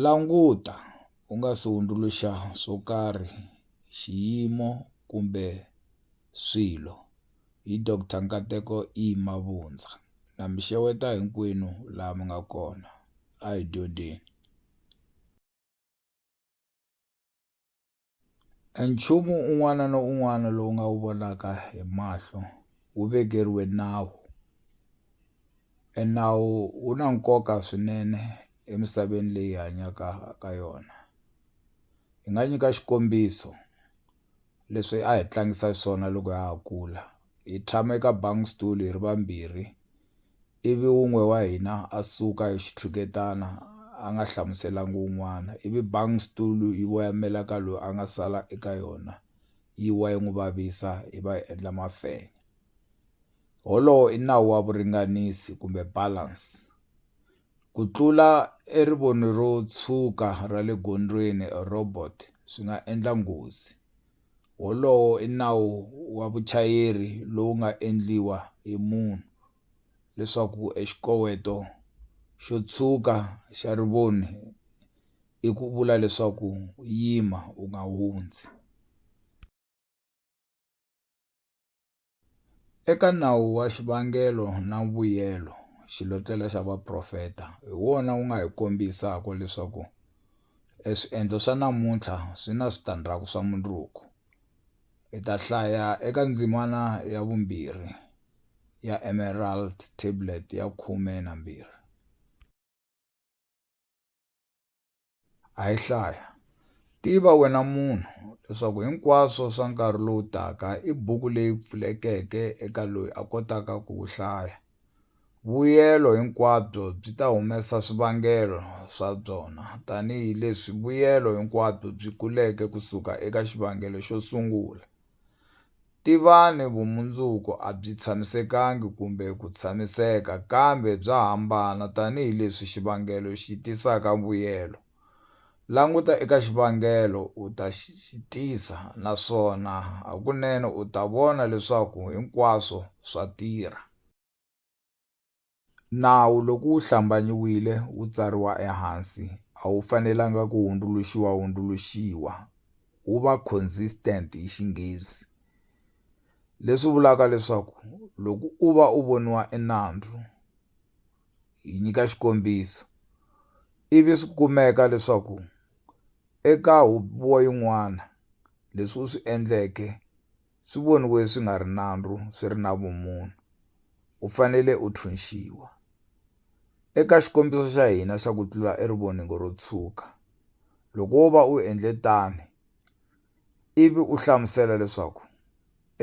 Languta u nga si hundzuluxa swo karhi, xiyimo kumbe swilo, hi Doctor Nkateko E. Mabundza. Na mi xeweta hinkwenu laha mi nga kona. A hi dyondzeni. E nchumu un'wana na un'wana lowu nga wu vonaka hi mahlo wu vekeriwe nawu e nawu wu na nkoka swinene emisaveni leyi hi hanyaka ha ka yona hi nga nyika xikombiso leswi a hi tlangisa swona loko ha ha kula hi tshama eka bangi stol hi ri vambirhi. ivi wun'we wa hina a suka hi xitshuketana a nga hlamuselangi wun'wana, ivi bang stulu yi voyamela ka loyi a nga sala eka yona yi wa yi n'wi vavisa yi va yi endla mafenya. Wolowo i nawu wa vuringanisi kumbe balance. Ku tlula erivoni ro tshuka ra le gondzweni, robot, swi nga endla nghozi. Wolowo i nawu wa vuchayeri lowu nga endliwa hi munhu leswaku exikoweto xo tshwuka xa rivoni i ku vula leswaku yima u nga hundzi. Eka nawu wa xivangelo na vuyelo, xilotlela xa vaprofeta hi wona wu nga hi kombisaka leswaku eswiendlo swa namuntlha swi na switandzhaku swa mundzuku. Hi ta hlaya eka ndzimana ya vumbirhi ya Emerald Tablet ya 12. A hi hlaya. Tiva wena munhu leswaku hinkwaswo swa nkarhi lowu taka i buku leyi pfulekeke eka loyi a kotaka ku wu hlaya. Vuyelo hinkwabyo byi ta humesa swivangelo swa byona tanihi leswi vuyelo hinkwabyo byi kuleke ku suka eka xivangelo xo sungula. Tivani vumundzuku a byi tshamisekangi kumbe ku tshamiseka kambe bya hambana tanihi leswi xivangelo xi tisaka vuyelo. Languta eka xivangelo u ta xi tisa naswona hakunene u ta vona leswaku hinkwaswo swa tirha. Nawu loko wu hlambanyiwile wu tsariwa ehansi a wu fanelanga ku hundzuluxiwa-hundzuluxiwa, wu va consistent hi Xinghezi, leswi vulaka leswaku loko u va u voniwa i nandzu, hi nyika xikombiso, ivi swi kumeka leswaku eka huvo yin'wana leswi u swi endleke swi voniwe swi nga ri nandzu swi ri na vumunhu u fanele u thunxiwa eka xikombiso xa hina xa ku tlula erivoningo ro tshuka loko wo va u endle tani ivi u hlamusela leswaku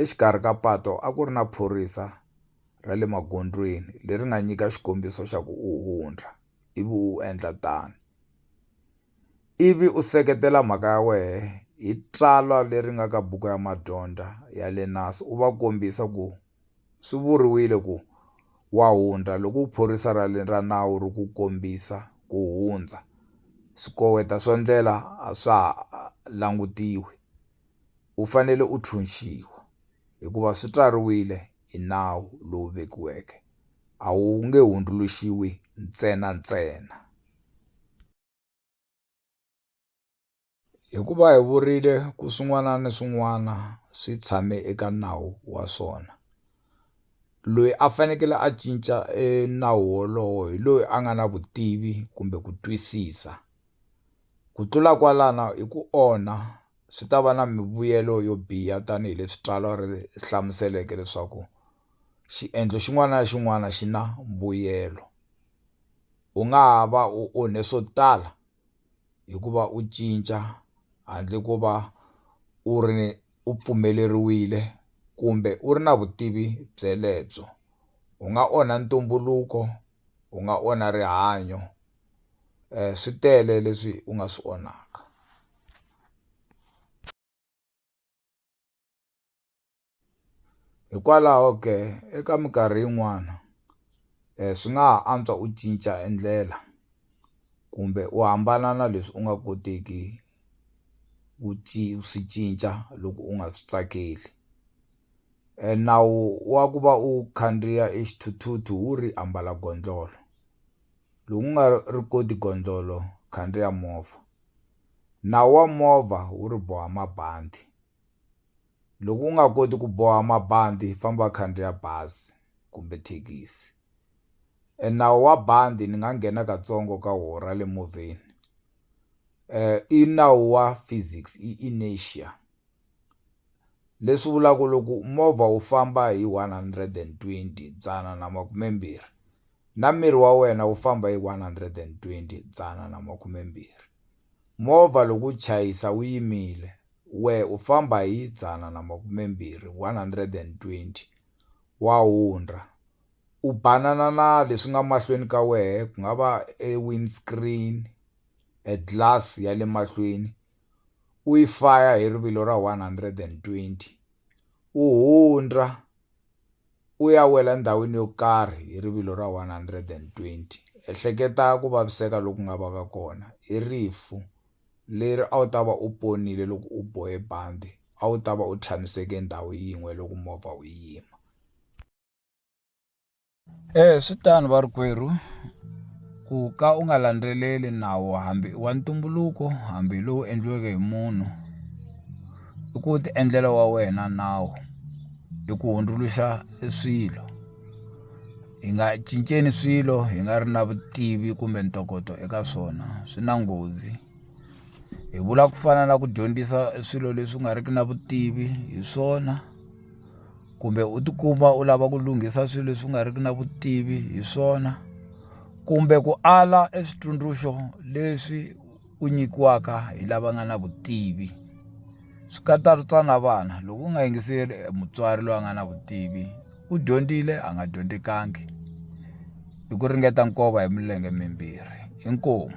exikarhi ka pato a ku ri na phorisa ra le magondzweni leri nga nyika xikombiso xa ku u hundza ivi u endla tano. ivi u seketela mhaka ya wena hi tsalwa leri nga ka buku ya madyondza ya le Naas u va kombisa ku swi vuriwile ku wa hundza loko phorisa ra le ra nawu ri ku kombisa ku hundza swikoweto swo ndlela a swa ha langutiwi u fanele u tshunxiwa hikuva swi tswariwile. hi nawu lowu vekiweke, a wu nge hundzuluxiwi ntsena-ntsena. Hikuva hi vurile ku swin'wana ni swin'wana swi tshame eka nawu wa swona, loyi a fanekele a cinca e nawu wolowo hi loyi a nga na vutivi kumbe ku twisisa. Ku tlula kwalano i ku onha swi ta va na mivuyelo yo biha tanihileswi tsalwa ri hlamuseleke leswaku xiendlo xin'wana na xin'wana xi na mbuyelo u nga ha va u onhe swo tala hikuva u cinca handle ko va u ri ni u pfumeleriwile kumbe u ri na vutivi byelebyo u nga onha ntumbuluko u nga onha rihanyo. swi tele leswi u nga swi onhaka hikwalaho ke eka minkarhi yin'wana swi nga ha antswa u cinca e ndlela kumbe u hambana na leswi u nga koteki ku swi cinca loko u nga swi tsakeli e nawu wa ku va u khandziya e xithuthuthu wu ri ambala gondlolo. lowu ku nga ri koti gondzolo khandziya movha nawu wa movha wu ri boha mabandi loko u nga koti ku boha mabandi famba khandziya bazi kumbe thekisi e nawu wa bandi ni nga nghena katsongo ka wo ra le movheni i nawu wa physics i inertia. leswi vulaku loko movha wu famba hi one hundred and twenty dzana na makumembirhi na miri wa wena wu famba hi one hundred and twenty dzana na makumembirhi movha loko wu chayisa wu yimile wehe u famba hi dzana na makumembirhi one hundred and twenty wa hundza u banana na leswi nga mahlweni ka wehe ku nga va e windscreen e glass ya le mahlweni u yi faya hi rivilo ra 120, u hundza u ya wela ndhawini yo karhi hi rivilo ra 120. Ehleketa ku vaviseka loku nga vaka kona! I rifu leri a wu ta va u ponile loko u bohe bandi, a wu ta va u tshamiseke ndhawu yin'we loko movha wu yima. E swi tano varikwerhu ku ka u nga landzeleli nawu hambi i wa ntumbuluko hambi hi lowu endliweke hi munhu i ku ti endlela wa wena nawu hi ku hundzuluxa e swilo hi nga cinceni swilo hi nga ri na vutivi kumbe ntokoto eka swona swi na nghozi hi vula ku fana na ku dyondzisa swilo leswi nga riki na vutivi hi swona. kumbe u tikuma u lava ku lunghisa swilo leswi u nga riki na vutivi hi swona kumbe ku ala e switsundzuxo leswi u nyikiwaka hi lava nga na vutivi swi katsa na vana loko u nga yingiseli mutswari loyi a nga na vutivi u dyondzile a nga dyondzikangi i ku ringeta nkova hi milenge mimbirhi inkomu.